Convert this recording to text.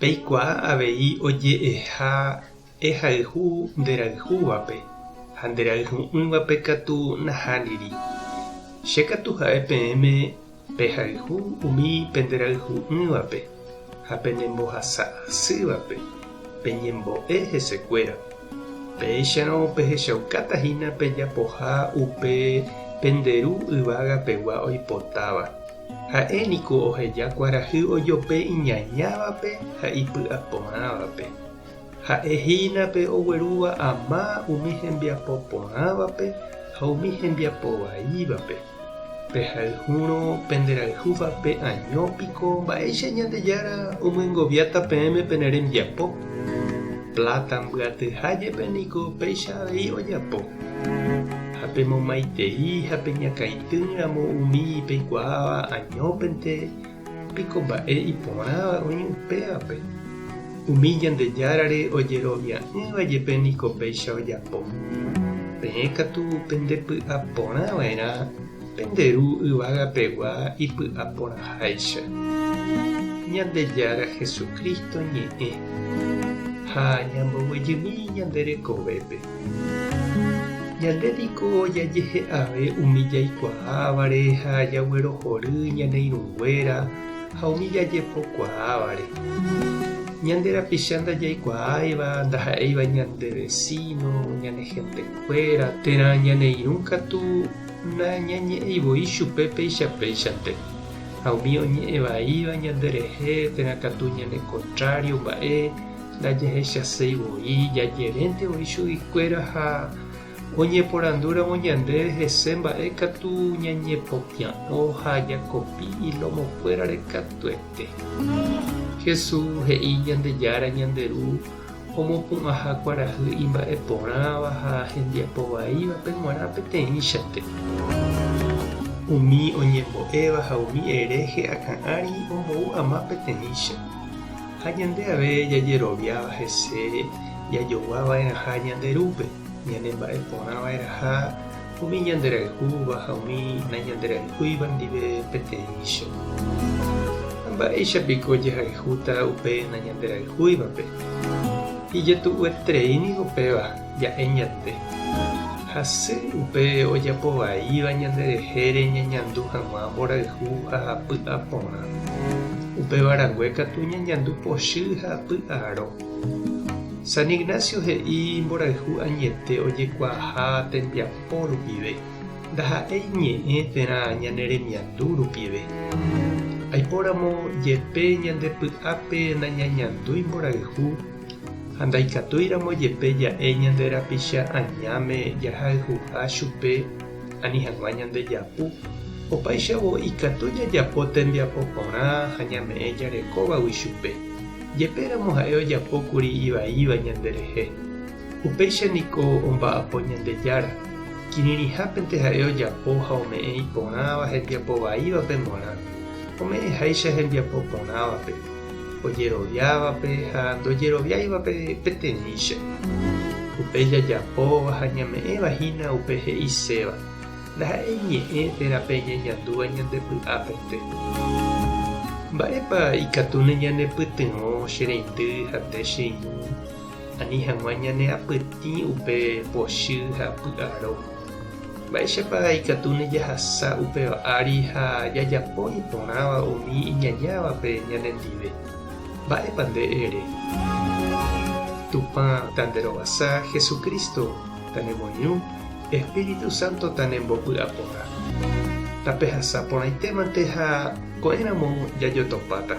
Peikuaa avei oje'eha ehayhu nderayhúvape, ha nderayhu'ỹvape katu nahániri. Che katu ha'e peẽme pehayhu umi penderayhu'ỹvape ha penembohasa asývape peñembo'e hesekuéra. Péicharõ pehechaukáta hína pejapoha upe pende Ru yvága pegua oipotáva. Ha'e niko oheja kuarahy ojope iñañávape ha ipy'aporãvape. Ha'e hína pe oguerúva ama umi hembiapo porãvape ha umi hembiapo vaívape. Pehayhúrõ penderayhúvape año piko mba'éicha Ñandejára omyengoviáta peẽme pene rembiapo. Pláta mbyatyha jepe niko péicha avei ojapo. Ha pemomaitei ha peñakãitei. Téramo umi peikuaáva añópente, piko mba'e iporãva oĩ upévape? Umi Ñandejárare ojerovia'ỹva jepe niko péicha ojapo. Peẽ katu pendepy'aporãva'erã pende Ru yvagapegua ipy'aporãháicha, Ñandejára Jesucristo ñe'ẽ, ha ñamboguejymi ñande rekovépe. Ñande niko jajehe'ave umi jaikuaávare ha jaguerohory ñane irũnguéra ha umi jajepokuaávare. Ñande rapicha ndajaikuaáiva, ndaha'éiva ñande vesíno, ñane hentekuéra térã ñane irũ katu nañañe'ẽi voi chupe péicha péichante. Ha umi oñe'ẽ vaíva ñande rehe térã katu ñane kontrário mba'e, Ndajehechaséi voi jajerénte voi chuguikuéra ha oñeporandúramo ñandéve hese mba'e katu ñañepopia'õ ha jakopi ilómokuérare katuete. Jesús he'i Ñandejára ñande Ru omopu'ãha kuarahy imba'eporãva ha hembiapo vaívape g̃uarã peteĩchante. Umi oñembo'éva ha umi hereje akã ári ombou ama peteĩcha. ha ñande ave jajeroviáva hese jajogua va'erãha ñande Rúpe, ñane mba'e porã va'erãha umi ñande rayhúva ha umi nañanderayhúiva ndive peteĩcho. Ha mba'éicha piko jahayhúta upe nañanderayhúivape? Ijetu'ueterei niko péva. ja'e ñande. Hasy upe ojapo vaíva ñande rehére ñañandu hag̃ua mborayhu ha py'a porã. Upéva rangue katu ñañandu pochy ha py'a aro. San Ignacio he'i mborayhu añete ojekuaaha tembiapo rupive, ndaha'éi ñe'ẽ térã ñane remiandu rupive. Aipóramo jepe ñande py'ápe nañañandúi mborayhu, ha ndaikatúiramo jepe ja'e ñande rapicha añáme jahayhuha chupe ani hag̃ua ñande japu, opáichavo ikatu jajapo tembiapo porã ha ñame'ẽ jarekóvagui chupe, jepéramo ha'e ojapo kuri ivaíva ñanderehe. Upéicha niko omba'apo Ñandejára, kirirĩhápente ha'e ojapo ha ome'ẽ iporãva hembiapo vaívape morã, ome'ẽháicha hembiapo porãvape. ojeroviávape ha ndojeroviáivape peteĩcha. Upe jajapóva ha ñame'ẽva hína upe he'iséva, ndaha'éi ñe'ẽ térã pe iñeñandúva ñande py'apente. Mba'épa ikatu neñanepytyvõ che reindy ha nde che irũ, ani hag̃ua ñaneapytĩ upe pochy ha py'aro? Mba'éichapa ikatu nejahasa upéva ári ha jajapo iporãva umi iñañávape ñanendive? Mba'épa nde ere? Tupã tanderovasa, Jesucristo tanemoirũ, Espíritu Santo tanembopy'a porã. Tapehasa porãitémante ha ko'ẽramo jajotopáta.